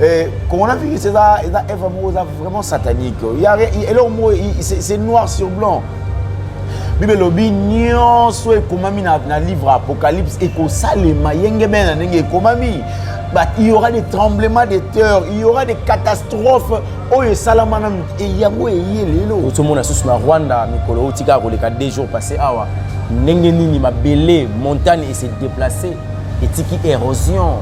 Eh, coronavirus eza eza eva moko eza vraiment satanique eloko moko c'est noir sur blanc bible elobi nyonso ekomami na, na livre apocalypse ekosalema yengemei na ndenge ekomami but il y aura des tremblements de terre il y aura des catastrophes oyo esalama nanu yango eye lelo ozomona susu na rwanda mikolo oyo tikaka koleka deux jours passé awa ndenge nini mabele montagne ese déplace etiki érosion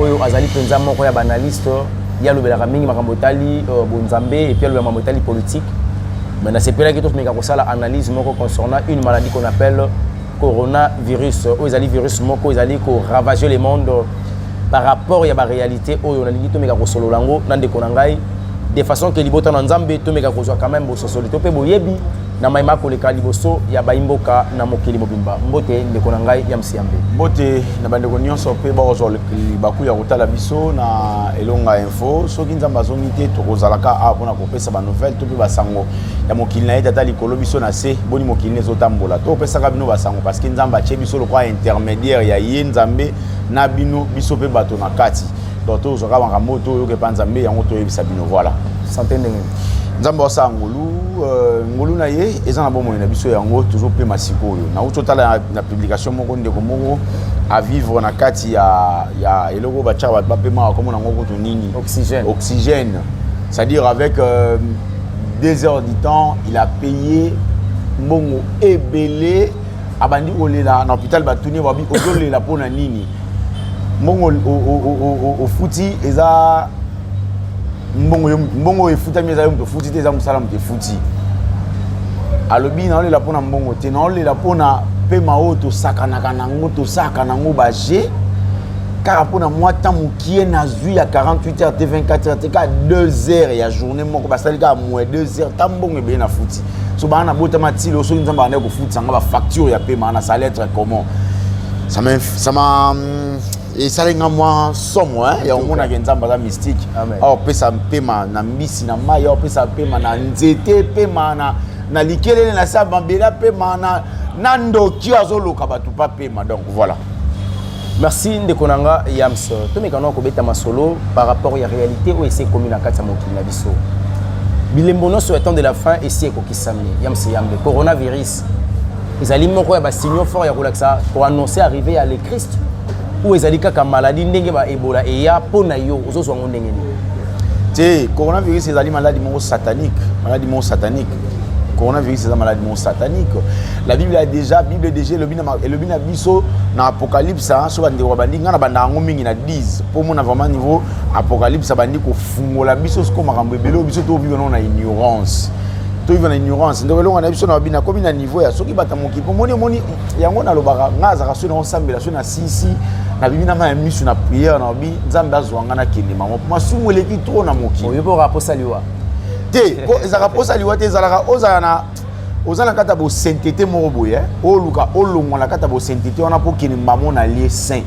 oyo azali mpenza moko ya baanalyste ye alobelaka mingi makambo etali euh, bonzambe epuis alobela makambo etali politique mais nasepelaki tomeka kosala analyse moko concernant une maladie qu'on appelle coronavirus oyo ezali virus moko ezali koravage le monde par rapport ya baréalité oyo nalingi tomeka kosolola yango na ndeko na ngai de façon ke libota na nzambe tomeka kozwa quand même bososoli to mpe boyebi na mai makoleka liboso ya baimboka na mokili mobimba mbote ndeko na ngai ya msiambe mbote na bandeko nyonso mpe bakozwa libaku ya kotala biso na elonga info soki nzambe azongi te tokozalaka awa mpona kopesa banouvelle to mpe basango ya mokili na ye tata likolo biso na se boni mokili na ezotambola to opesaka bino basango parceke nzambe atye biso lokola intermédiaire ya ye nzambe na bino biso mpe bato na kati donc tozwaka makambo oyo toyoka epa nzambe yango toyebisa bino voilà sante ndenge nzambe asala ngolu euh, ngolu na ye eza na bomoi na biso yango tozopema sikoyo nauti otala na publication moko ndeko moko avivre na kati ya, ya eloko oyo batyaka bato bapemaka komona yango kutu nini oxygène, oxygène. c'est-à-dire avec euh, deux heures du temps il a payé mbongo ebele abandi kolela na hôpital batuni ye babi ozolela mpo na nini mbongo ofuti eza mbongo mbongo efutami eza yo moto ofuti te eza mosala moto efuti alobi naolela mpo na mbongo te naolela mpo na mpema oyo tosakanaka nango tosaka nango baje kaka mpo na mwa temps mokie nazwi ya 48 heures te 24 heures te kaka 2 heures ya journée moko basali kaka moye 2 heures ta mbongo ebele na futi so bana nabotama ti lelo soki nzambe abandaki kofutisa nga bafacture ya pema na sali être comment ça m'a ça m'a hum, esali nga mwa somo ya omonaka nzambe aza mystique aopesa mpema na mbisi na mai aopesa mpema na nzete mpema na na likelele na sa mabela mpema na na ndoki azoloka bato pa mpema donc voilà Merci ndeko na nga Yams. Tomekana kobeta masolo par rapport ya réalité oyo esi ekomi na kati ya mokili na biso. Bilembo nyonso ya temps de la fin esi ekokisami. Yams Yambe, coronavirus ezali moko ya basignaux fort ya kolakisa koannonce arrive ya le Christ oyo ezali kaka maladie ndenge ba Ebola eya mpo na yo ozozwa yango ndenge nini? Te, coronavirus ezali maladi moko satanique, maladi moko satanique coronavirus eza maladi moko satanique la bible ya déjà bible déjà elobi na biso na apocalypse soki bandeko babandi ngai na banda yango mingi na 10 mpo omona vraiment niveau apocalypse abandi kofungola biso siko makambo ebele oyo biso toviva nao na ignorance toyiva na ignorance ndeko elonga na biso na babina akomi na niveau ya soki bata mokipo omoni omoni yango nalobaka ngai azalaka soki naosambela soki na sisi nabimi na mai ya miso na priere na babi nzambe azwa ngai nakende mama masumu eleki tro na mokili oyebi oka aposaliwa te po ezalaka posa liwa te ezalaka ozala na oza na kati ya bosentete moko boye oluka olongwa na kati ya bosentete wana mpo okende mbamo na lie saint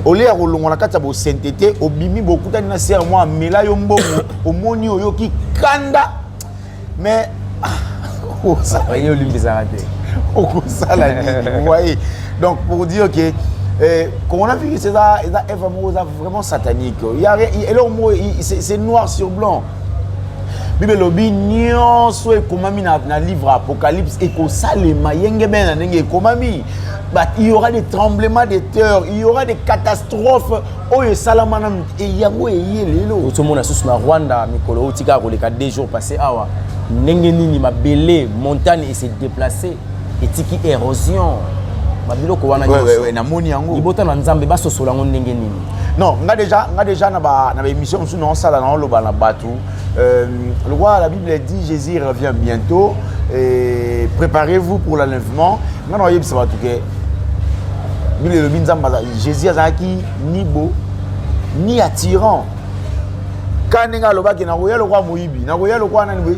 olie ya kolongwa na kati ya bosentete obimi bokutani na sere mwa amela yo mbongo omoni oyoki kanda mais ah, ye olimbisaka te okosala nini waye donc pour dire que eh, coronavirus eza eza eva moko eza vraiment satanique eloko moko c'est noir sur blanc bible elobi nyonso ekomami na, na livre apocalypse ekosalema yengebene na ndenge ekomami but il y aura des tremblements de terre il y aura des catastrophes oyo esalama nanu yango eye lelo ozomona susu na rwanda mikolo oyo tikaka koleka deux jours passé awa ndenge nini mabele montagne ese déplace etiki erosion babiloko wana namoni yango libota na nzambe basosola yango ndenge nini non nga deja nga deja na baémission mosusu naosala naoloba na bato euh, lokwa la bible dit jésus revient bientôt et préparez-vous pour l'enlèvement nga naoyebisa bato ke bible elobi nzambe jésus azalaki ni bo ni attirant ka ndenge alobaki nakoya lokwa moyibi nakoya lokwa nani boye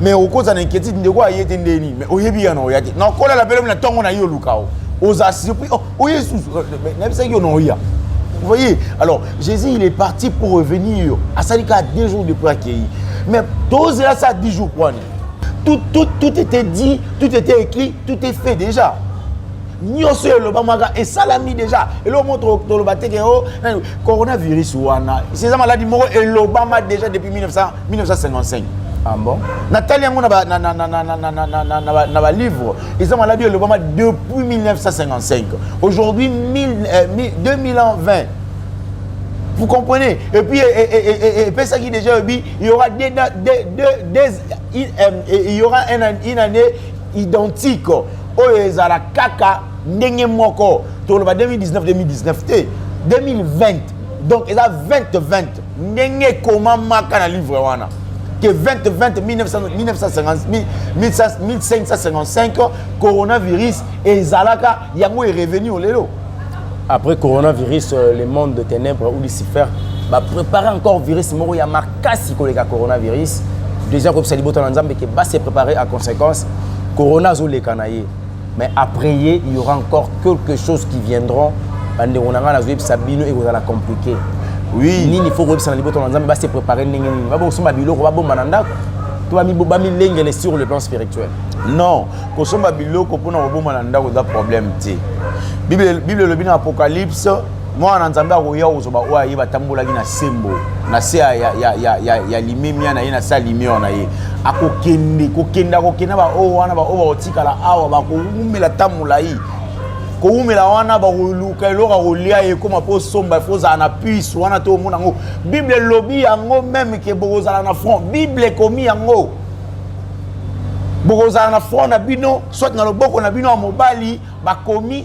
mais okozala na inquiétude ndeko aye te nde nini mais oyebi yana oya te nakolela mpe lobi na ntongo na ye oluka o oza surpris oh, oye susu nayebisaki yo na oya Vous voyez Alors, Jésus, il est parti pour revenir. À ça, il a deux jours de accueilli. Mais tous là, ça, dix jours pour tout, tout, tout était dit, tout était écrit, tout est fait déjà. nyonso elobamaka esalami déjà eloko moko toloba te ke o coronavirus wana eza maladi moko elobama déjà depuis 1900 1955 ah bon natali yango na balivre eza maladi elobama depuis 1955 aujourd'hui 2020 euh, vous comprenez et puis epesaki déjà ebi il y aura des, des, des, des, euh, il y aura une, une année identique oyo ezala kaka ndenge moko toloba 2019 2019 te 2020 donc eza 2020 ndenge ekomamaka na livre wana que 20, 20, 1900, 1950, 1555, coronavirus, et Zalaka, Yango est revenu au Lelo. Après coronavirus, euh, le monde de ténèbres ou Lucifer va préparer encore virus moro ya makasi koleka coronavirus. Déjà, comme ça, libota na nzambe que va se préparer à conséquence. Corona zo lekana ye. mais après ye il y aura encore quelque chose qui viendront bandeko na ngai nazoyebisa bino ekozala compliqué oui nini faut koyebisa na libota na nzambe base prépare ndenge nini babosomba biloko babomba na ndako to bamilengele sur le plan spirituel non kosomba biloko mpona kobomba na ndako eza problème te bible elobi na apocalypse mwana na nzambe akoya kozwa oyo aye batambolaki na sembo na se ya, ya, ya, ya, ya, ya limemia na ye na se ya limeur na ye akokende kokenda kokenda baoyo wana baoyo kala awa bakowumela ta molai kowumela wana bakoluka eloko ya kolia ekoma mpo osomba fo ozala na puce wana to omona yango bible elobi yango meme ke bokozala na front bible ekomi yango bokozala na front na bino soit na loboko na bino ya mobali bakomi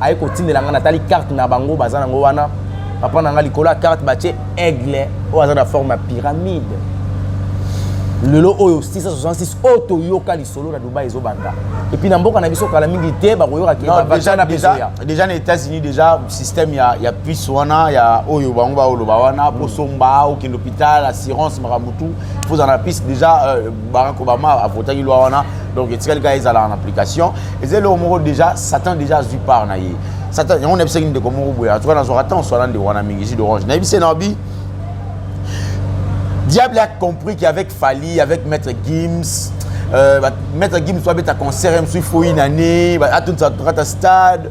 aye kotindela ngai natali carte na bango baza nango wana papa na ngai likolo ya carte batie aigle oyo aza na forme ya pyramide lelo oyo 666 oyo toyoka lisolo na dubai ezobanda epuis na mboka na biso kala mingi te bakoyoka kedeja na états-unis déjà système ya, ya puce wana ya oyo bango baoloba wana mm. posomba okende hôpital assurance makambo tu pozala na puce déjà euh, barack obama avotaki lwa wana donc etikali kaka ezala en application eza eloko moko déjà satan déjà azwi part na ye satan yango nayebisaki ndeko moko boye en tout cas nazwaka temps oswana ndeko wana mingi jus d'orange nayebisi na obi diable a compris qu'avec fali avec maître gims euh, maître gims oabeta concert msu foi nane atonisa tokata stade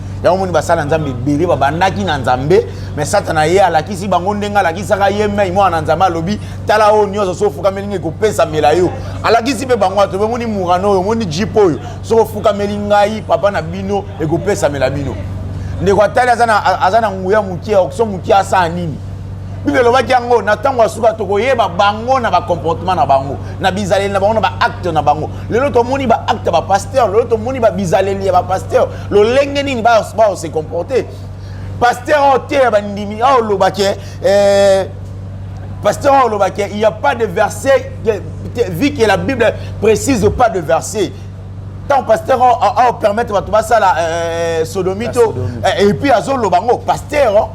yango moni basali na nzambe ebele babandaki na nzambe me satana ye alakisi bango ndenge alakisaka ye mai mwana na nzambe alobi tala oyo nyonso soki ofukameli ngai kopesamela yo alakisi mpe bango ato omoni murano oyo omoni jipe oyo soki ofukameli ngai papa na bino ekopesamela bino ndeko atali aza na nguya moke so moke asala nini bible elobaki yango na ntango ya suka tokoyeba bango na bacomportement na bango na bizaleli na bango na baacte na bango lelo tomoni baacte ya bapaster lelo tomoni babizaleli ya bapaster lolenge nini bao se comporte pasteur oyo teya bandimi oyo oloba ke eh, pasteur oyo oloba ke il y a pas de verset vu que la bible précise pas de verset ntango pasteur ao permettre bato basala eh, sodomito eh, epuis azoloba yango pasteur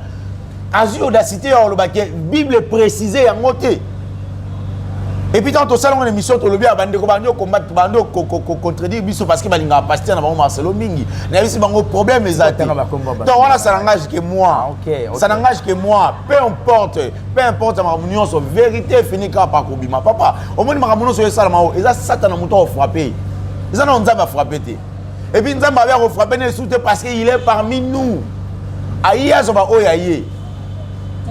azwi audacité ya koloba ke bible précise yango te epuis ntango tosala yango na émission tolobi ya bandeko bandi okombate bandi ocontredire biso parce que balingaka paster na bango marcelo mingi nayebisi bango problème eza te donc wana ça n'engage que moi ah, ça n'engage que moi peu importe peu importe makambo nyonso vérité efini kaka pa kobima papa omoni makambo nyonso oyo esalama oyo eza satana moto akofrappe eza na nzambe afrappe te et puis nzambe abe akofrape na esu te parce que il est parmi nous aye azwa baoyo aye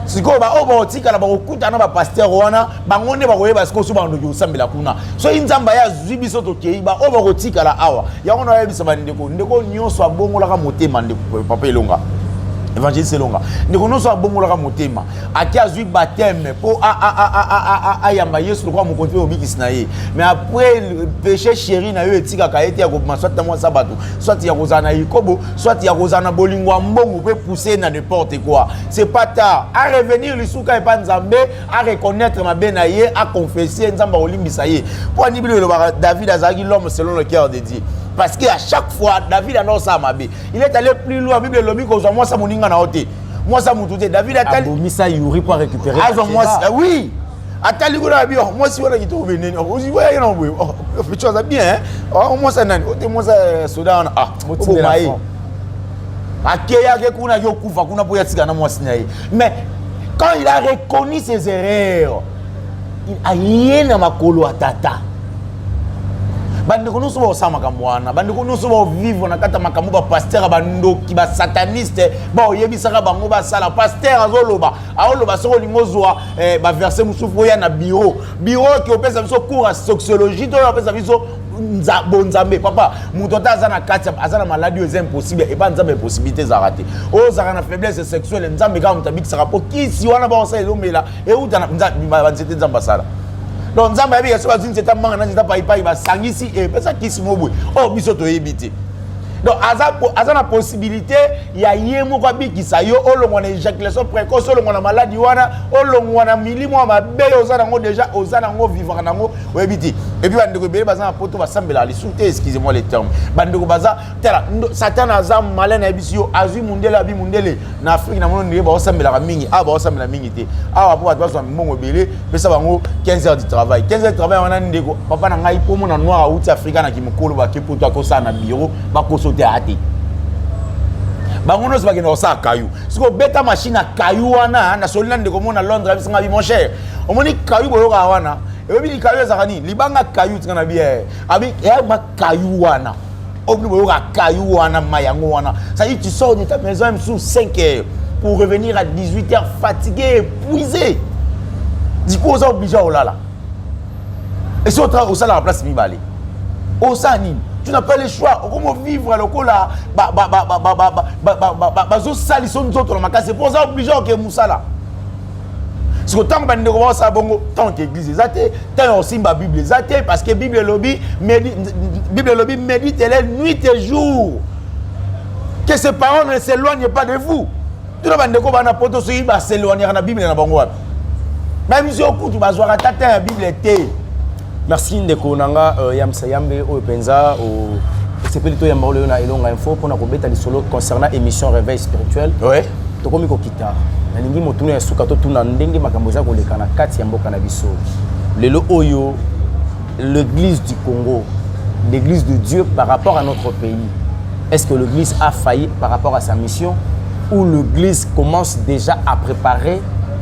sikoyo baoyo bakotikala bakokuta na bapaster wana bango nde bakoyeba sikoyo so bandoki kosambela kuna soki nzambe aye azwi biso tokei baoyo bakotikala awa yango na bayebisa bandeko ndeko nyonso abongolaka motema ndeko papa elonga evangeliste elonga ndeko nyonso abongolaka motema ake azwi bateme mpo ayamba yesu lokola mokonzi mpe mobikisi na ye mais après péché chéri na yo etikaka ye te ya kobima soit na mwasa bato soit ya kozala na likobo soit ya kozala na bolingo ya mbongo mpe pousse na n'importe quoi c'est pas tard a revenir lisuka epa nzambe a reconnaître mabe na ye a confesse nzambe akolimbisa ye mpo ani bino elobaka david azalaki l'homme selon le cœur de dieu parce que à chaque fois david anao osala mabe il est allé plus loin bible elobi kozwa mwasa moninga na yo te mwasi ya motu te david atalibomisa yuri mpo arécupere azwa mwasi ah oui atali kuna abi oh, mwasi wana kitoko beneni oh, oziwayaki na boye oh, picho aza bien mwasi ya nani ote mwasi ya soda wana ah, oboma ye akeyaki kuna yokufa kuna mpo yatika na mwasi na ye mais quand il a reconnu ses erreurs aye na makolo ya tata bandeko nyonso baosala makambo wana bandeko nyonso baovivre na kati ya makambo bapaster ya bandoki basataniste baoyebisaka bango basala paster azoloba aoloba soki olingi ozwa eh, baverse mosusu oya na biro biro oki opesa biso cour ya sociologie to oyo apesa biso bonzambe papa moto ata aza na kati aza na maladi oyo eza impossible epa nzambe impossibilité ezalaka te oyo ozalaka na faiblesse sexuelle nzambe kaka moto abikisaka mpo kisi wana baosala ezomela euta na nzambe bima banzete nzambe asala donc nzambe ayebi ya soki bazwi nzete amanga na nzete paipai basangisi epesa kisi mo boye oyo oh, biso toyebi te donc aza, aza na possibilité ya ye moko abikisa yo olongwa na éjaculation précoce olongwa na maladi wana olongwa na milimo ya mabe oza nango déjà oza nango vivaka nango oyebi te epuis bandeko ebele baza na poto basambelaka lisusu te excusez moi le terme bandeko baza tala satana aza male nayebisi yo azwi mundele abi mundele na afrike namono ndenge baosambelaka mingi awa baosambela mingi te awa mpo bato bazwa mbongo ebele pesa bango 15 heures du travail 15 heures du travail wana ndeko papa na ngai mpo mona noir auti afrika na kimokolo bake poto akosala na biro bakoso te aya te bango nyonso bakenda kosala kayu soki obeta mashine ya kayu wana nasoli na ndeko mona londres abisanga bi mon cher omoni kayu boyokaka wana ebebi likayu ezalaka nini libanga kayu tika na biye abi eyama kayu wana obino boyoka kayu wana ma yango wana cestadire tu sors de ta maison ya mosusu 5 heures pour revenir à 18 heures fatigué épuisé diku oza oblige ya kolala esi osalaka place mibale osala nini tu n'as pas le choix okomo vivre lokola bazosalisa nzoto na makasi mpo oza oblige oke mosala siko ntango bandeko baosala bongo ntango te eglize eza te ntango ya kosimba bible eza te parce que bible elobi bible elobi meditele nuit et jour que ces paroles ne s'éloignent pas de vous tuna bandeko bana poto soki baseloignaka na bible na bango wapi bayebi soki okutu bazwaka tata ya bible te Merci ndeko na nga euh, Yamsa Yambe oyo penza o sepeli to yamba oyo na Elonga Info pona ko beta lisolo concernant émission réveil spirituel. Ouais. Tokomi ko kita. Nalingi motuna ya suka to tuna ndenge makambo eza koleka na kati ya mboka na biso. Lelo oyo l'église du Congo, l'église de Dieu par rapport à notre pays. Est-ce que l'église a failli par rapport à sa mission ou l'église commence déjà à préparer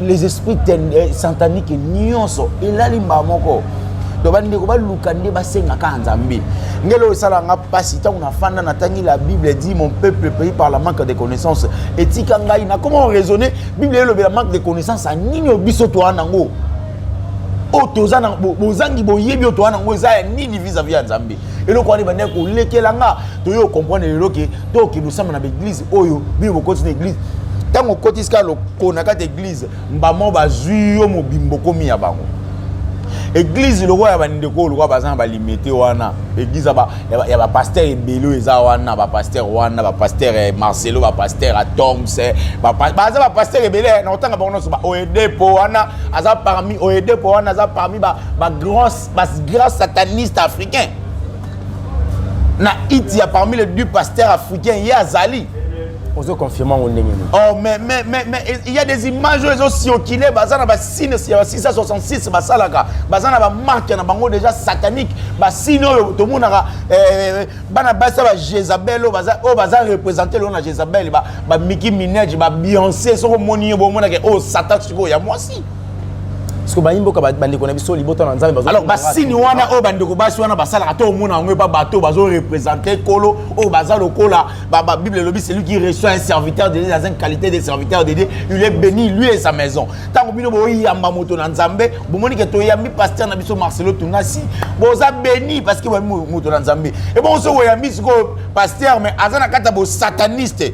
les esprits eh, santanique nyonso elali mbaa moko donc bandeko baluka nde basengaka ya nzambe ngelo esala nga mpasi ntango nafanda natangi la bible dit mon peuple pays par la manque de connaissance etika ngai nakoma raisonne bible elobela manque de connaissance ya nini oyo biso toa nango oyo toza bozangi boyebi oyo toa nango eza ya nini vis-à-vis ya nzambe eloko wana ebandaki kolekela nga toye okomprendre lelo ke tokende osamba na baeglize oyo bino bokoti na eglize ntango okotisi kaka loko na kati eglize mbamo bazwi yo mobimbo komi ya bango eglize lokola ya bandeko oyo lokola baza na balimete wana eglize ya bapaster ebele oyo eza wana bapaster wana bapaster eh, marcelo bapaster atoms eh, baza bapaster ebele eh, na kotanga bango nyonso baoedepo wana aza parmi oedepo wana aza parmi bagrand bas grand sataniste africain na it ya parmi les deux pasteurs africains ye azali ozo confirme yango ndenge nini oh mais mais mais mais il y a des images oyo ezo circuler baza na ba signes ya 666 basalaka baza na ba marque na bango déjà satanique ba signes oyo tomonaka eh, bana basi ba Jezabel oyo baza oyo baza représenter lona Jezabel ba ba Mickey Minaj ba Beyoncé soko moni ye bo monaka oh satan sikoyo ya mwasi Parce que bayi mboka bandeko na biso libota na Nzambe bazo Alors basini wana oyo bandeko basi wana basalaka to omona yango epa bato bazo représenter kolo oyo baza lokola ba, ba Bible elobi celui qui reçoit un serviteur de Dieu dans une qualité de serviteur de Dieu il est béni lui et sa maison ntango bino boyamba moto na Nzambe bomoni ke toyambi pasteur na biso Marcelo Tunasi boza béni parce que boyambi moto na Nzambe et bon oso oyambi sikoyo pasteur mais aza na kati ya bosataniste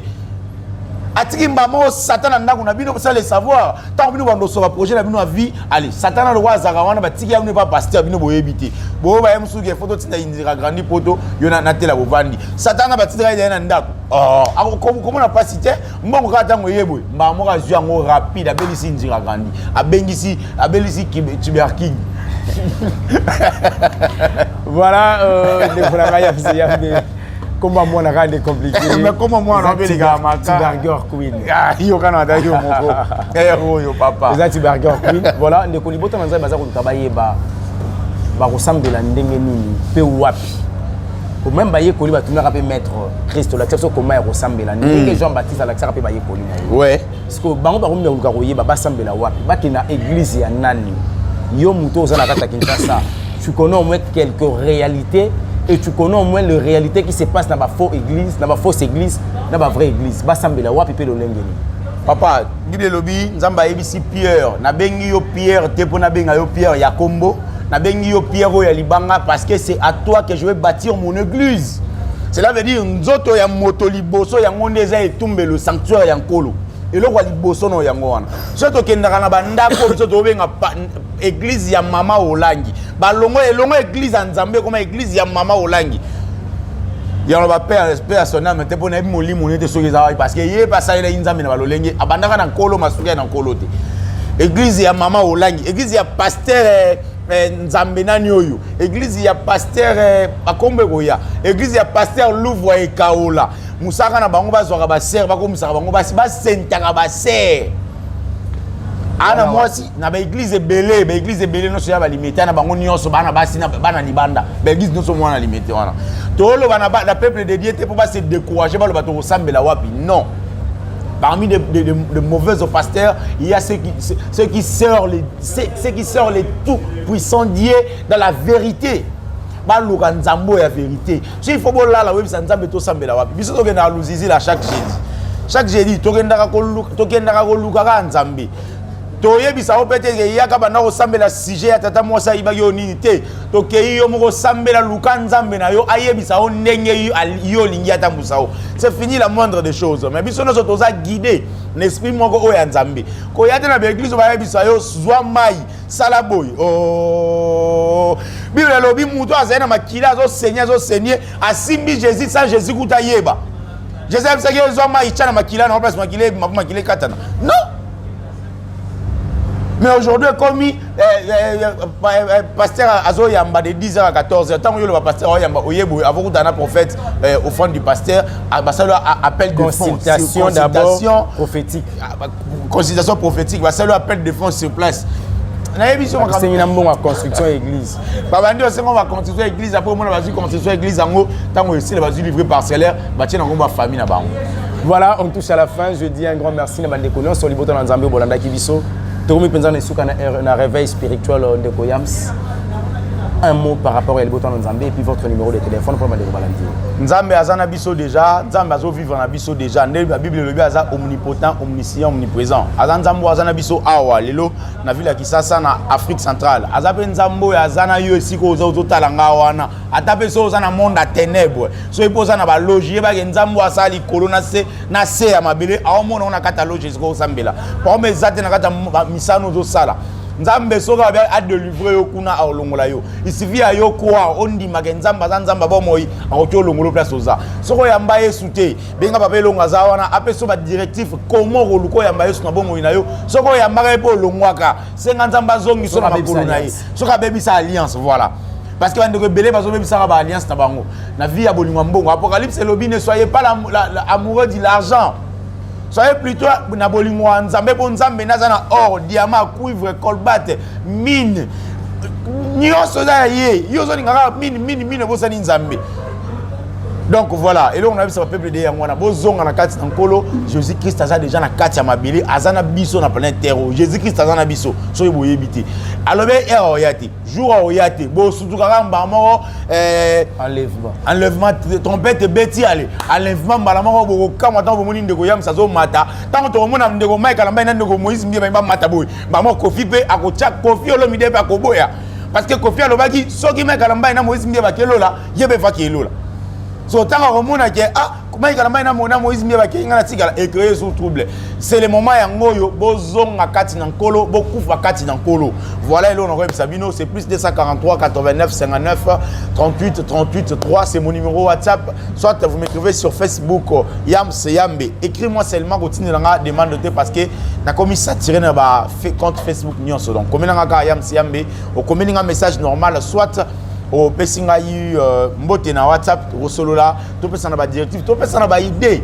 atiki mbama oyo satan na ndako na bino bosala le savoir ntango bino bandoso baprojet na bino ya vie ale satan na lokola azalaka wana batiki ya bino epa paster bino boyebi te boyo baye mosusu ke foto tinda indira grandi poto yo natela bovandi satan na batindaka ezaye na ndako oh, komona mpasi te mbongo kaka ntango eye boye mbaa moko azwi yango rapide abelisi indira grandi abengisi abelisi tuberking voilà euh, ndekolanga ya kombo ya mwana kaka nde compliqué kombo ya mwana obeleka makatibarger queen ah, yokana ata yo moko eh, oyo papa eza tibarger queen voilà ndeko libota na nzambe baza koluka bayeba bakosambela ndenge nini mpe wapi meme bayekoli batunaka mpe maître christ olakisa biso koma ya kosambela ndenge hmm. jean baptiste alakisaka mpe bayekoli na ye sikoyo bango bakomi na koluka koyeba basambela wapi bakenda eglize ya nani yo moto oza na kati ya kinshasa tu connais au moins quelques réalités et tu connais au moins le réalité qui se passe na bafaux église na bafausse église na bavrai église basambela wapi mpe lolenge nini papa bible elobi nzambe ayebisi pierre nabengi yo pierre te mpo nabenga yo pierre ya kombo nabengi yo pierre oyo ya libanga parce que c'est à toi que je vais bâtir mon église cela veut dire nzoto ya moto liboso yango nde eza etumbelo sanctuaire ya nkolo eloko ya liboso na yango wana so tokendaka na bandako biso tobenga eglize ya mama olangi balongo elongo eglize ya nzambe ekoma eglize ya mama olangi yango bapere mpe ya soname te mpo nayebi molimo nete soki eza wapi parce que ye mpe asalelaki nzambe na balolenge abandaka na nkolo masuki ya na nkolo te eglize ya mama olangi eglize ya pastere eh, nzambe nani oyo eglize ya paster eh, bakombo ekoya eglize ya paster louvre ekaola mosaka na bango bazwaka basere bakomisaka bango basi basentaka basere ana mwasi na baeglize ebele baeglize ebele nyonso ya balimete na bango nyonso bana basi bana libanda baeglize nyonso mwana limete wana toloba na peuple de dieu te mpo base décourage baloba tokosambela wapi non parmi de, de, de, de mauvaises pasteurs il y a ceux qui, ceux qui sœurent les C'est ce qui sort le tout puissant Dieu dans la vérité. baluka nzambe oyo ya verité so ifo bolala oyebisa nzambe tosambela wapi biso tokendaka luzizila chaque jeudi chaque jeudi tokendaka koluka kaka nzambe toyebisa yo mpe te ke yaka banda kosambela sujet ya tata mwasi ayibaki yo nini te tokei yo moko osambela luka nzambe na yo ayebisa yo ndenge yo olingi atambusa yo c'est fini la moindre des choses mais biso nyonso toza guide na esprit moko oyo ya nzambe koya te na baeglize bayebisa yo zwa mai sala boye o oh. biblia elobi moto azali na makila azosenye azosenye asimbi jésus sans jésus kuta ayeba jésus ayebisaki yo zwa mai tya na makila na place makila ebima mpo makila ekatana non mais aujourd'hui ekomi eh, eh, eh, pasteur azoyamba de 10 heures à 14 heures ntango yo loba pasteur oyamba oyeboye avokutana na prophète offrande du pasteur basali appel de consultation d'abord prophétique ah, consultation prophétique basali appel de fonds sur place nayebi biso makambosengi na mbongo ya construction ya église babandi osengo ba construction ya église apres omona bazwi construction ya église yango ntango esila bazwi livre parcellaire batie na nkombo ya famille na bango voilà on touche à la fin je dis un grand merci na bandeko nyonso libota na nzambe bolandaki biso tokomi mpenza na esuka na réveil spirituel euh, ndeko yams un mot par rapport ya libota na nzambe et puis votre numéro de téléphone mpo na bandeko balandi nzambe aza na biso déjà nzambe azo vivre na biso déjà nde la bible elobi aza omnipotent omniscient omniprésent aza nzambe aza na biso awa lelo na ville ya kisasa na afrique centrale aza mpe nzambe oyo aza na yo esika oza ozotala nga wana ata mpe so oza na monde ya ténèbre soki mpe oza na baloge yebake nzambe oyo asala likolo na se na se ya mabele aomona ngo na kati ya loge esika osambela paome eza te na kati ya misano ozosala nzambe soki adelivre yo kuna aolongola yo isivi ya yo kwa ondima ke nzambe aza nzambe abomoi akoki olongolo place oza soki oyamba yesu te benga papa elongo aza wana apesa badirective koma okoluka oyamba yesu na bomoi na yo soki oyambaka ye mpe olongwaka senga nzambe azongisa na makolo na ye soki abebisa alliance voilà parce que bandeko ebele bazobebisaka baalliance na bango na vie ya bolingo ya mbongo apocalypse elobi ne soyez pas amoureux de l'argent soyez plutôt na bolingo ya nzambe mpo nzambe nde aza na or diamant cuivre colbate mine nyonso eza ya ye yo ozolinga kaka mine mine mine obosani nzambe donc voilà eloko na biso bapeuple de yango wana bozonga na kati na nkolo jésus christ aza déjà na kati ya mabele aza na biso na planète terre oyo jésus christ aza na biso soki boyebi te alobi ere oya te jour akoya te bosutuka kaka mbala moko eh, enlèvement enlèvement trompette ebeti ale enlèvement mbala moko bokokamwa ntango bomoni ndeko yams azomata ntango tokomona ndeko mike alambani na ndeko moïse mbie bangi bamata boye mbala moko kofi mpe akotya kofi olomide mpe akoboya parce que kofi alobaki soki mike alambani na moïse mbie bakelola ye mpe faki elola so ntango akomona ke ah mayika na mai na mona moïse mie bakei ngai natikala ecreye jour trouble c'est le moment yango oyo bozonga kati na nkolo bokufa kati na nkolo voilà eloko nakoyebisa bino c'est plus 243 89 59 38 38 3 c'est mon numéro whatsapp soit vous m'écrivez sur facebook euh, yam seyambe écris moi seulement kotindela nga demande te parce que nakomi satire na ba compte facebook nyonso donc komela nga kaka yam seyambe okomeli nga message normal soit opesi ngai euh, mbote na whatsapp tosolola topesana ba directive topesana ba idée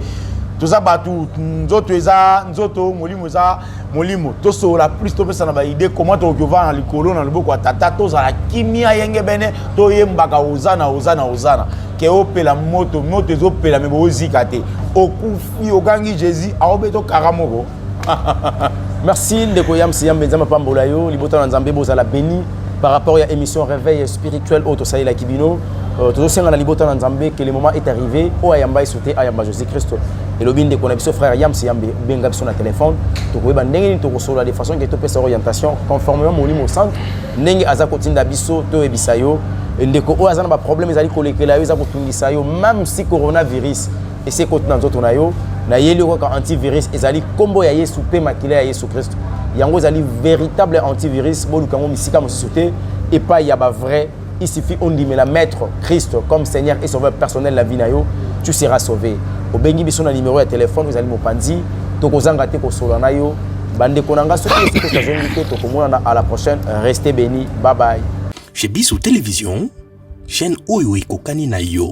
toza bato nzoto eza nzoto molimo eza molimo tosolola plus topesana ba idée comment tokoki ovanda na likolo na loboko ya tata tozala kimia yengebene toyembaka ozana ozana ozana ke opela moto moto ezopela me boozika te okufi ogangi jésus aobe tokara moko merci ndeko yams yambe nzambe apambola yo libota na nzambe bozala beni par rapport ya émission réveil spirituel oyo tosalelaki bino euh, tozosenga na libota na nzambe que le moment est arrivé oyo ayamba yesu te ayamba jésus christ elobi ndeko na biso frère yams yambe benga biso na telefone tokoyeba ndenge nini tokosolola de façon ke topesa orientation conformément molimo santu ndenge aza kotinda biso toyebisa yo ndeko oyo aza na baproblème ezali kolekela yo eza kotungisa yo meme si coronavirus esi ekoti na nzoto na yo nayeli yo kaka antivirus ezali nkombo ya yesu mpe makila ya yesu kristo yango ezali véritable antivirus boluka yango misika mosusu te epai ya bavrai il suffit ondimela maître christ comme seigneur et sauveur personnel la vie na yo tu seras sauvé obengi biso na nimero ya telefone ezali mopanzi tokozanga te kosolola na yo bandeko na ngai soki esiko tozongi te tokomonana à la prochaine reste béni bye bye chez biso télévision chaîne oyo ekokani na yo